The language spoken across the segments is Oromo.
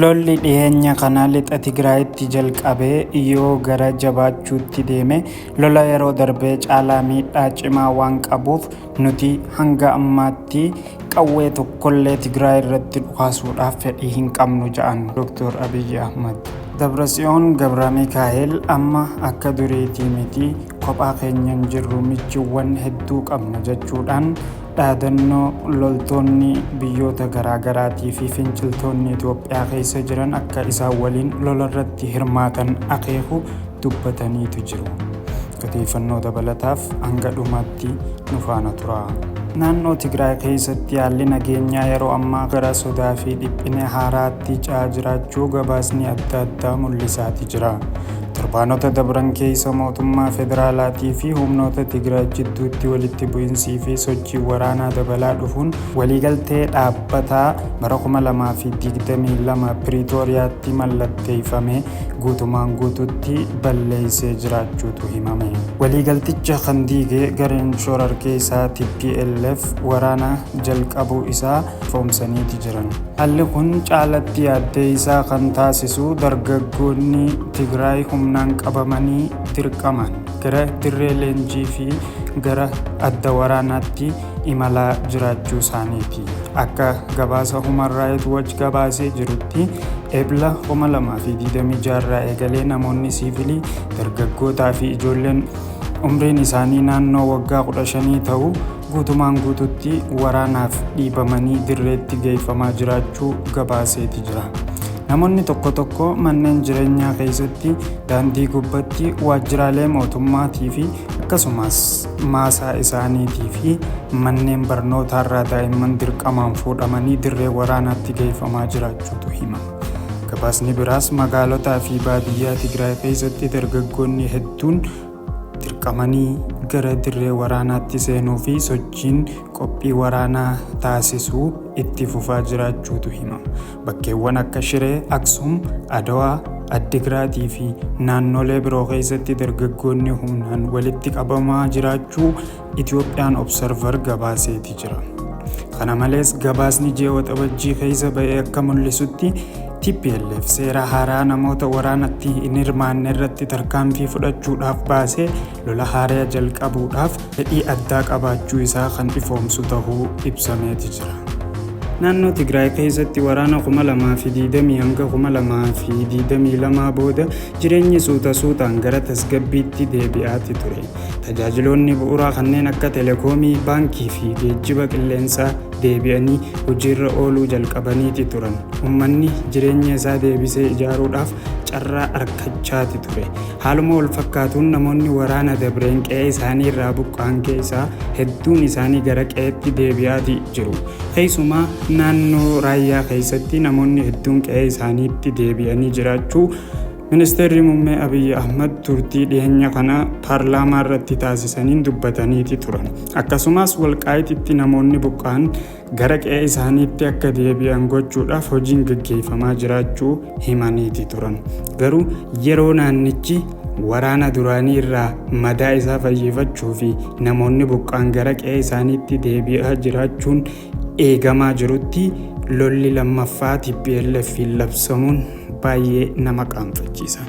Lolli dhiheenya kana lixa Tigraayitti jalqabe yoo gara jabaachuutti deeme lola yeroo darbee caalaa miidhaa cimaa waan qabuuf nuti hanga ammaatti qawwee tokkollee Tigraay irratti dhukaasuudhaaf fedhii hin qabnu ja'an Dr. Abiyyi Ahmad. Dabratsiyoon Gabramikaa'el amma akka duriitii miti Kophaa keenya hin jirru michuuwwan hedduu qabna jechuudhaan dhaadannoo loltoonni biyyoota garaagaraatii fi finciltoonni Itoophiyaa keessa jiran akka isaan waliin lolarratti hirmaatan akeeku dubbataniitu jiru. Odeeffannoo dabalataaf hanga dhumaatti nu faana tura. Naannoo Tigraay keessatti haalli nageenyaa yeroo ammaa gara sodaa fi dhiphina haaraatti ce'aa jiraachuu gabaasni adda addaa mul'isaati jira. Torbaanota dabran keessa mootummaa federaalaatii fi humnoota Tigraay jidduutti walitti bu'insii fi sochiin waraanaa dabalaa dhufuun waliigaltee dhaabbataa bara 2022 Piriitooriyaatti mallatteeffame guutumaan guututti balleessee jiraachuutu himame. Waliigalticha kan diige gareen shorarkeessaa TPLF waraana jalqabuu isaa ifoomsaniiti jiran. Haalli kun caalatti yaaddeessaa kan taasisu dargaggoonni Tigraay humnaan qabamanii dirqamaan gara dirree leenjii fi gara adda waraanaatti imalaa jiraachuu isaaniiti. Akka gabaasa Human Rights Watch gabaasee jirutti Ebla 2026 irraa eegalee namoonni siivilii, dargaggootaa fi ijoolleen umriin isaanii naannoo waggaa 15 ta'u guutumaan guututti waraanaaf dhiibamanii dirreetti geeffamaa jiraachuu gabaaseeti jira. Namoonni tokko tokko manneen jireenyaa keessatti, daandii gubbatti, waajjiraalee mootummaatii fi akkasumas maasaa isaaniitii fi manneen barnootaarraa daa'imman dirqamaan fuudhamanii dirree waraanaatti geeffamaa jiraachuutu himama. Gabaasni biraas magaalotaa fi baadiyyaa Tigraay keessatti dargaggoonni hedduun dirqamanii gara dirree waraanaatti seenuu fi sochiin qophii waraanaa taasisuu itti fufaa jiraachuutu hima. Bakkeewwan akka Shiree, Aksum, Adawaa, Addigiraatii fi naannolee biroo keessatti dargaggoonni humnaan walitti qabamaa jiraachuu Itiyoophiyaan Observer gabaaseeti jira. Kana malees gabaasni ji'a Waxabajjii keessa ba'e akka mul'isutti tplf seera haaraa namoota waraanatti hin hirmaanne irratti tarkaanfii fudhachuudhaaf baasee lola haaraa jalqabuudhaaf fedhii addaa qabaachuu isaa kan ifoomsu tahuu ibsameeti jira. Naannoo Tigraay keessatti waraana 2020 hanga 2022 booda Jireenyi suuta suutaan gara tasgabbiitti deebi'aati ture. Tajaajiloonni bu'uuraa kanneen akka telekoomii, baankii fi geejjiba qilleensaa deebi'anii hojiirra ooluu jalqabaniiti turan. Ummanni jireenya isaa deebisee ijaaruudhaaf carraa arkachaati ture. Haaluma wal fakkaatuun namoonni waraana dabreen qe'ee isaanii irraa buqqa'an keessaa hedduun isaanii gara qe'eetti deebi'aati jiru. Keessumaa naannoo raayyaa keessatti namoonni hedduun qe'ee isaaniitti deebi'anii jiraachuu Ministeerri Muummee Abiyyi Ahmad turtii dhiyeenya kana paarlaamaa irratti taasisaniin dubbataniiti turan. Akkasumas walqaayititti namoonni buqqa'an gara qe'ee isaaniitti akka deebi'an gochuudhaaf hojiin gaggeeffamaa jiraachuu himaniiti turan. Garuu yeroo naannichi waraana duraanii irraa madaa isaa fayyifachuu fi namoonni buqqa'an gara qe'ee isaaniitti deebi'aa jiraachuun eegamaa jirutti lolli lammaffaa TPLFiin labsamuun baay'ee nama qaanfachiisa.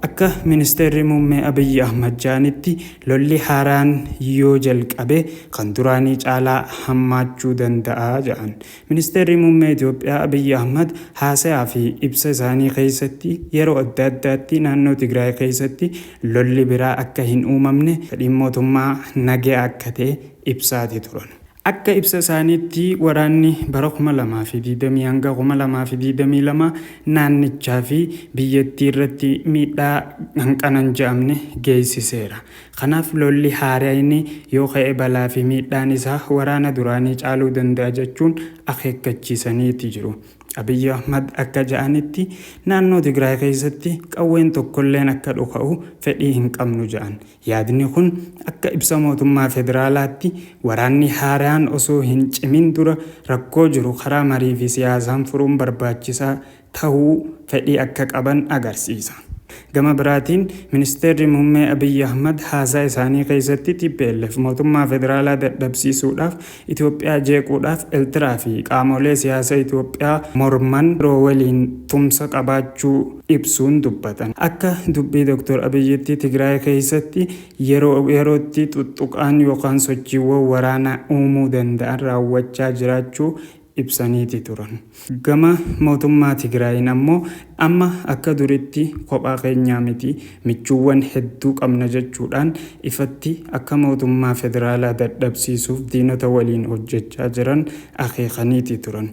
Akka ministeerri muummee Abiyyi Ahmad jedhanitti lolli haaraan yoo jalqabe kan duraanii caalaa hammaachuu danda'a jedhan. Ministeerri muummee Itoophiyaa Abiyyi Ahmad haasayaa fi ibsa isaanii keessatti yeroo adda addaatti naannoo Tigraay keessatti lolli biraa akka hin uumamne fedhiin mootummaa nagaya akka ta'e ibsaati turan. Akka ibsa isaaniitti waraanni bara 2020-2022 naannichaa fi biyyattii irratti miidhaa hanqana hin je'amne geessiseera. Kanaaf lolli haarayni yoo ka'e balaa fi miidhaan isaa waraana duraanii caaluu danda'a jechuun akeekkachiisaniiti jiru. Abiyyi Ahmad akka ja'anitti naannoo Tigraay keessatti qawween tokkolleen akka dhuka'u fedhii hin qabnu ja'an. Yaadni kun akka ibsa mootummaa federaalaatti waraanni haaraan osoo hin cimin dura rakkoo jiru karaa marii fi siyaasaan furuun barbaachisaa tahuu fedhii akka qaban agarsiisa. Gama biraatiin Ministeerri Muummee Abiy Ahmad haasaa isaanii keessatti tplf mootummaa federaalaa dadhabsiisuudhaaf Itoophiyaa jeequudhaaf Ertiraa fi qaamoolee siyaasa Itoophiyaa morman biroo waliin tumsa qabaachuu ibsuun dubbatan. Akka dubbii Dr. Abiyyitti Tigraay keessatti yeroo yerootti xuxxuqaan yookaan sochiiwwan waraanaa uumuu danda'an raawwachaa jiraachuu ibsaniiti turan. Gama mootummaa Tigraayiin ammoo amma akka duritti kophaa keenyaa miti, michuuwwan hedduu qabna jechuudhaan ifatti akka mootummaa federaalaa dadhabsiisuuf diinota waliin hojjechaa jiran akeekaniiti turan.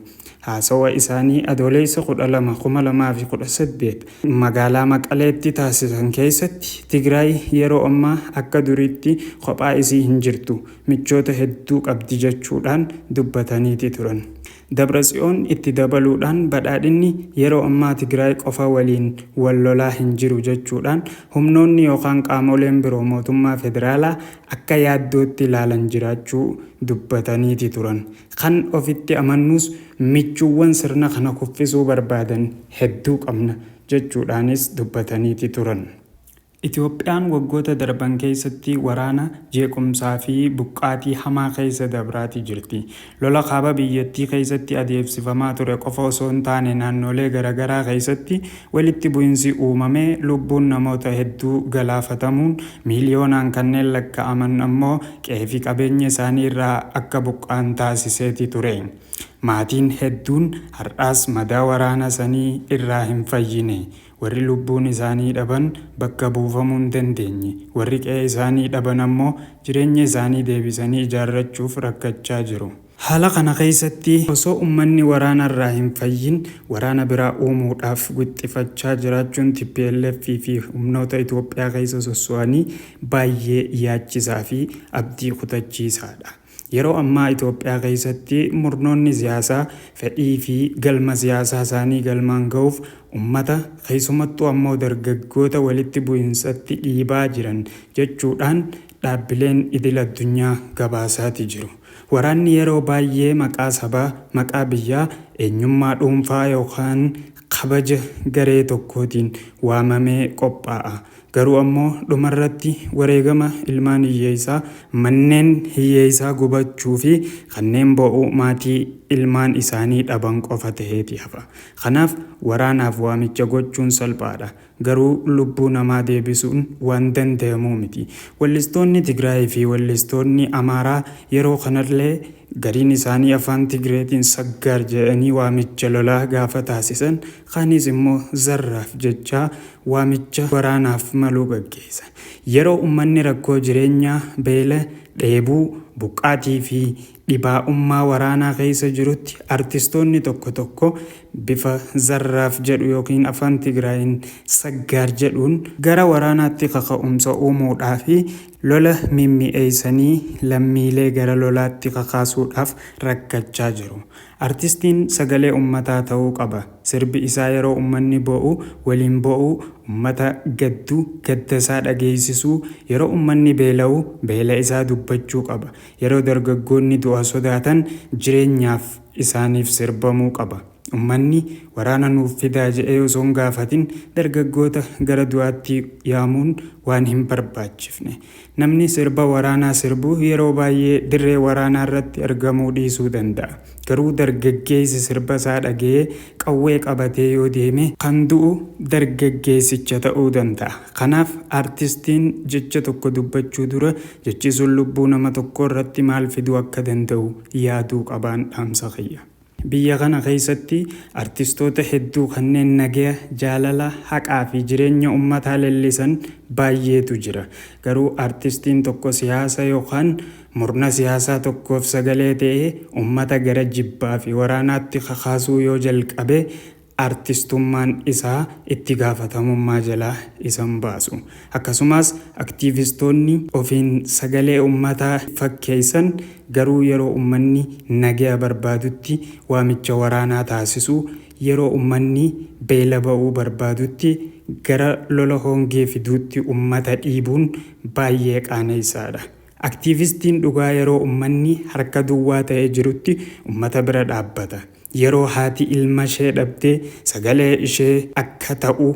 Haasawa isaanii Adooleessa 12, 2018 magaalaa Maqaleetti taasisan keessatti Tigraay yeroo ammaa akka duriitti kophaa isii hin jirtu, michoota hedduu qabdi jechuudhaan dubbataniiti turan. Dabratsiyoon itti dabaluudhaan badhaadhinni yeroo ammaa Tigraay qofa waliin wal lolaa hin jiru jechuudhaan humnoonni yookaan qaamoleen biroo mootummaa federaalaa akka yaaddootti ilaalan jiraachuu dubbataniiti turan. Kan ofitti amannuus michuuwwan sirna kana kuffisuu barbaadan hedduu qabna jechuudhaanis dubbataniiti turan. Itoophiyaan waggoota darban keessatti waraana, jeequmsaa fi buqqaatii hamaa keessa dabraatii jirti. Lola kaaba biyyattii keessatti adeemsifamaa ture qofa osoo hin taane naannoolee garagaraa keessatti walitti bu'insi uumamee lubbuun namoota hedduu galaafatamuun miiliyoonaan kanneen lakka'aman ammoo qe'ee fi qabeenya isaanii irraa akka buqqa'an taasiseeti ture. Maatiin hedduun har'aas madaa waraana sanii irraa hin fayyine. Warri lubbuun isaanii dhaban bakka buufamuu hin dandeenye. Warri qe'ee isaanii dhaban ammoo jireenya isaanii deebisanii ijaarrachuuf rakkachaa jiru. Haala kana keessatti osoo ummanni waraana irraa hin fayyin waraana biraa uumuudhaaf wixxifachaa jiraachuun tplf fi humnoota Itoophiyaa keessa sosso'anii baayyee yaachisaa fi abdii kutachiisaadha. Yeroo ammaa Itoophiyaa keessatti murnoonni siyaasaa fedhii fi galma siyaasaa isaanii galmaan gahuuf ummata, keessumattuu ammoo dargaggoota walitti bu'insatti dhiibaa jiran jechuu dhaan dhaabbileen idil addunyaa gabaasaati jiru. Waraanni yeroo baayyee maqaa sabaa, maqaa biyyaa, eenyummaa dhuunfaa yookaan kabaja garee tokkootiin waamamee qophaa'a. Garuu ammoo dhumarratti wareegama ilmaan hiyyeessaa, manneen hiyyeessaa gubachuufi kanneen boo'uu maatii ilmaan isaanii dhaban qofa ta'eeti hafa. Kanaaf waraanaaf waamicha gochuun salphaadha. Garuu lubbuu namaa deebisuun waan danda'amu miti. Wellistoonni Tigraayii fi wellistoonni Amaaraa yeroo kanallee gariin isaanii afaan Tigreetiin Saggaar jedhanii waamicha lolaa gaafa taasisan kaanis immoo Zarraaf jechaa waamicha waraanaaf malu gaggeessan. Yeroo ummanni rakkoo jireenyaa, beela, dheebuu, buqqaatii fi Dhibaa'ummaa waraanaa keessa jirutti artistoonni tokko tokko bifa Zarraaf jedhu ykn Afaan Tigraayiin Saggaar jedhuun gara waraanaatti kaka'umsa uumuudhaafi lola mimmi'eessanii lammiilee gara lolaatti kakaasuudhaaf rakkachaa jiru. Artistiin sagalee ummataa ta'uu qaba. Sirbi isaa yeroo ummanni bo'u waliin bo'uu, ummata gaddu gaddasaa dhageessisuu, yeroo ummanni beela'u beela isaa dubbachuu qaba. Yeroo dargaggoonni du'a sodaatan jireenyaaf isaaniif sirbamuu qaba. Ummanni waraana nuuf fidaa jedhee osoo hin gaafatin dargaggoota gara du'aatti yaamuun waan hin barbaachifne. Namni sirba waraanaa sirbu yeroo baay'ee dirree waraanaa irratti argamuu dhiisuu danda'a. Garuu dargaggeessi sirba isaa dhaga'ee qawwee qabatee yoo deeme kan du'u dargaggeessicha ta'uu danda'a. Kanaaf artistiin jecha tokko dubbachuu dura jechi sun lubbuu nama tokkoo irratti maal fiduu akka danda'u yaaduu qabaan dhaamsa kiyya. Biyya kana keessatti artistoota hedduu kanneen nagaya, jaalala, haqaa fi jireenya ummataa lellisan baay'eetu jira. Garuu artistiin tokko siyaasa yookaan Murna siyaasaa tokkoof sagalee ta'ee ummata gara jibbaa fi waraanaatti kakaasuu yoo jalqabe artistummaan isaa itti gaafatamummaa jalaa isa hin baasu. Akkasumaas aktiivistoonni ofiin sagalee ummataa fakkeessan garuu yeroo ummanni nagaya barbaadutti waamicha waraanaa taasisu, yeroo ummanni beela ba'uu barbaadutti gara lola hongee fiduutti ummata dhiibuun baay'ee qaaneessaadha. Aktiivistiin dhugaa yeroo ummanni harka duwwaa ta'ee jirutti ummata bira dhaabbata. Yeroo haati ilmashee dhabde sagalee ishee akka ta'u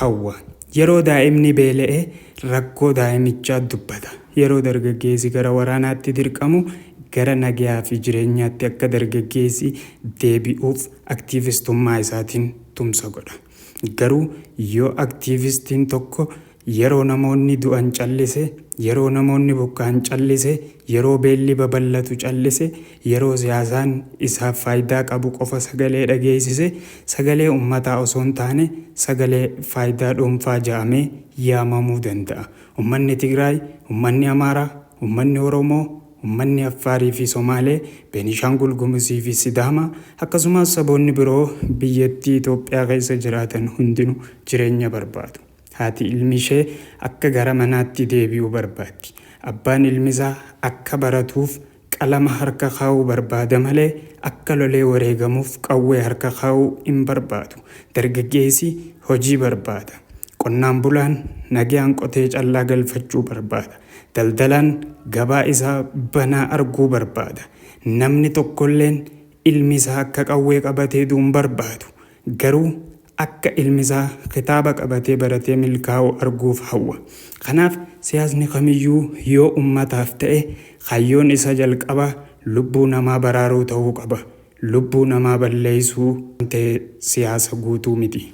hawwa. Yeroo daa'imni beela'e rakkoo daa'imichaa dubbata. Yeroo dargaggeessi gara waraanaatti dirqamu gara nagayaa fi jireenyaatti akka dargaggeessi deebi'uuf aktiivistummaa isaatiin tumsa godha. Garuu yoo aktiivistiin tokko yeroo namoonni du'an callise, yeroo namoonni buqqa'an callise, yeroo beelli babal'atu callise, yeroo siyaasaan isaaf faayidaa qabu qofa sagalee dhageessise, sagalee ummataa osoo hin taane sagalee faayidaa dhuunfaa ja'amee yaamamuu danda'a. Ummanni Tigraay, ummanni Amaaraa, ummanni Oromoo, Ummanni Affaarii fi Somaalee, Beenishaangul Gumuzii fi Sidaamaa, akkasumaas saboonni biroo biyyattii Itoophiyaa keessa jiraatan hundinu jireenya barbaadu. Haati ilmi ishee akka gara manaatti deebi'u barbaaddi. Abbaan ilmisaa akka baratuuf qalama harka kaa'uu barbaada malee akka lolee wareegamuuf qawwee harka kaa'uu hin barbaadu. Dargaggeessi hojii barbaada. Qonnaan bulaan nagayaan qotee callaa galfachuu barbaada. Daldalaan gabaa isaa banaa arguu barbaada. Namni tokkolleen ilmi isaa akka qawwee qabatee du'u hin barbaadu. Garuu akka ilmi isaa kitaaba qabatee baratee milkaa'u arguuf hawwa. Kanaaf siyaasni kamiyyuu yoo ummataaf ta'e kaayyoon isa jalqabaa lubbuu namaa baraaruu ta'uu qaba. Lubbuu namaa balleessuu ta'e siyaasa guutuu miti.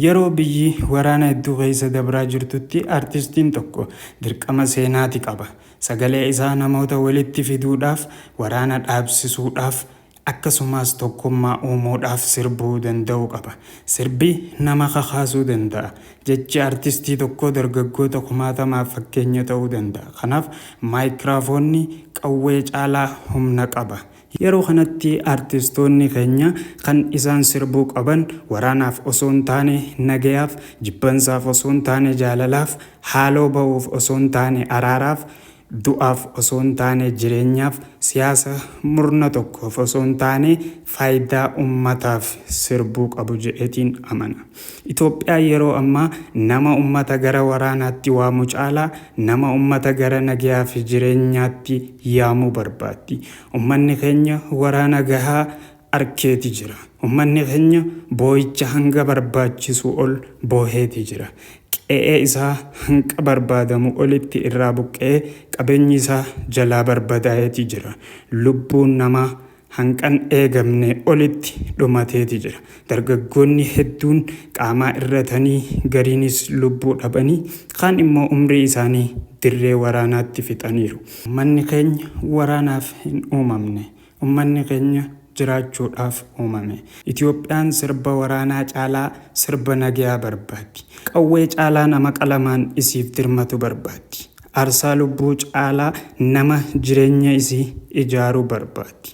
Yeroo biyyi waraana hedduu keessa dabraa jirtutti artistiin tokko dirqama seenaati qaba. Sagalee isaa namoota walitti fiduudhaaf, waraana dhaabsisuudhaaf, akkasumaas tokkummaa uumuudhaaf sirbuu danda'uu qaba. Sirbi nama kakaasuu danda'a. Jechi artistii tokkoo dargaggoota kumaatamaaf fakkeenya ta'uu danda'a. Kanaaf maayikiraafoonni qawwee caalaa humna qaba. Yeroo kanatti artistoonni keenya kan isaan sirbuu qaban waraanaaf osoo hin taane nagayaaf, jibbansaaf osoo hin taane jaalalaaf, haaloo ba'uuf osoo hin taane araaraaf, du'aaf osoo hin taane jireenyaaf, siyaasa murna tokkoof osoo hin taane faayidaa ummataaf sirbuu qabu jedheetiin amana. Itoophiyaa yeroo ammaa nama ummata gara waraanaatti waamu caalaa, Nama ummata gara nagaa fi jireenyaatti yaamu barbaaddi. Ummanni keenya waraana gahaa arkeeti jira. Ummanni keenya booyicha hanga barbaachisu ol booheeti jira. Qe'ee isaa hanqa barbaadamu olitti irraa buqqa'ee qabeenyi isaa jalaa barbadaa'eeti jira. Lubbuun namaa hanqan eegamne olitti dhumateeti jira. Dargaggoonni hedduun qaamaa irratanii, gariinis lubbuu dhabanii, kaan immoo umrii isaanii dirree waraanaatti fixaniiru. Ummanni keenya waraanaaf hin uumamne. Ummanni keenya jiraachuudhaaf uumame. Itoophiyaan sirba waraanaa caalaa sirba nagayaa barbaaddi. Qawwee caalaa nama qalamaan isiif dirmatu barbaaddi. Aarsaa lubbuu caalaa nama jireenya isii ijaaru barbaaddi.